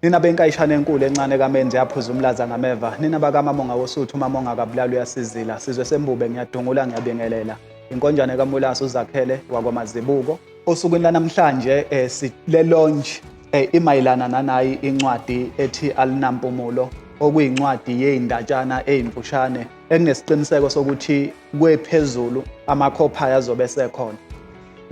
Nina benkayishana enkulu encane kamenzi yaphuza umlaza ngameva. Nina bakamamonga wosuthu umamonga akabulala uyasizila. Sizwe sembube ngiyadungula ngiyabingelela. Inkonjane kamulasi uzakhele wakwamazibuko. Osukwini lanamhlanje eh, si- le lounge eh, imayelana nanayi incwadi ethi Alinampumulo okuyincwadi yezindatshana ezimfushane enginesiqiniseko sokuthi kwephezulu amakhophaya azobe esekhona.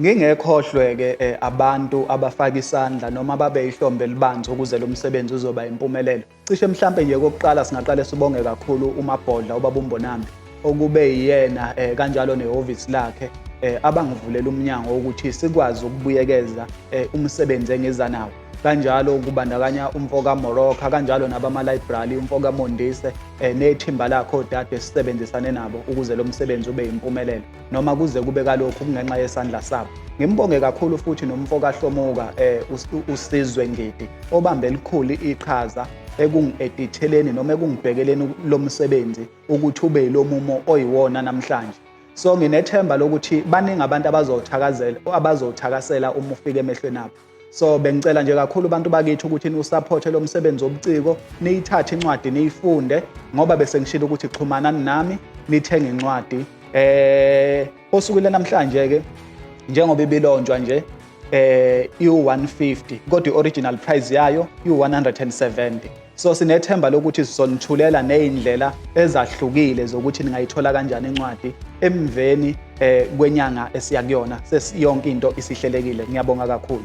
Ngingekhohlwe-ke eh, abantu abafaka isandla noma babe ihlombe elibanzi ukuze lo msebenzi uzoba yimpumelelo. Cishe mhlampe nje kokuqala singaqale sibonge kakhulu uMabhodla ubaba uMbonambi okube yiyena eh, kanjalo nehhovisi lakhe eh, abangivulela umnyango wokuthi sikwazi ukubuyekeza eh, umsebenzi engiza nawo kanjalo kubandakanya umfoka Moroka kanjalo nabama library umfoka Mondise eh, nethimba lakhe odade sisebenzisane nabo ukuze lo msebenzi ube yimpumelelo noma kuze kube kalokhu kungenxa yesandla sabo ngimbonge kakhulu futhi nomfo kahlomuka um usizwe ngidi obambe elikhulu iqhaza ekungi-editheleni noma ekungibhekeleni lo msebenzi ukuthi ube yilo mumo oyiwona namhlanje so nginethemba lokuthi baningi abantu abazowuthakazela abazowuthakasela uma ufika emehlweni abo so bengicela nje kakhulu abantu bakithi ukuthi niwusaphothe lo msebenzi wobuciko niyithathe incwadi niyifunde ngoba bese ngishilo ukuthi xhumanani nami nithenge incwadi eh osukwile namhlanje ke njengoba ibilonjwa nje eh iwu-150 kodwa i-original price yayo iwu-170 So sinethemba lokuthi sizonithulela nezindlela ezahlukile zokuthi ningayithola kanjani incwadi emveni eh, kwenyanga esiya kuyona sesiyonke into isihlelekile. Ngiyabonga kakhulu.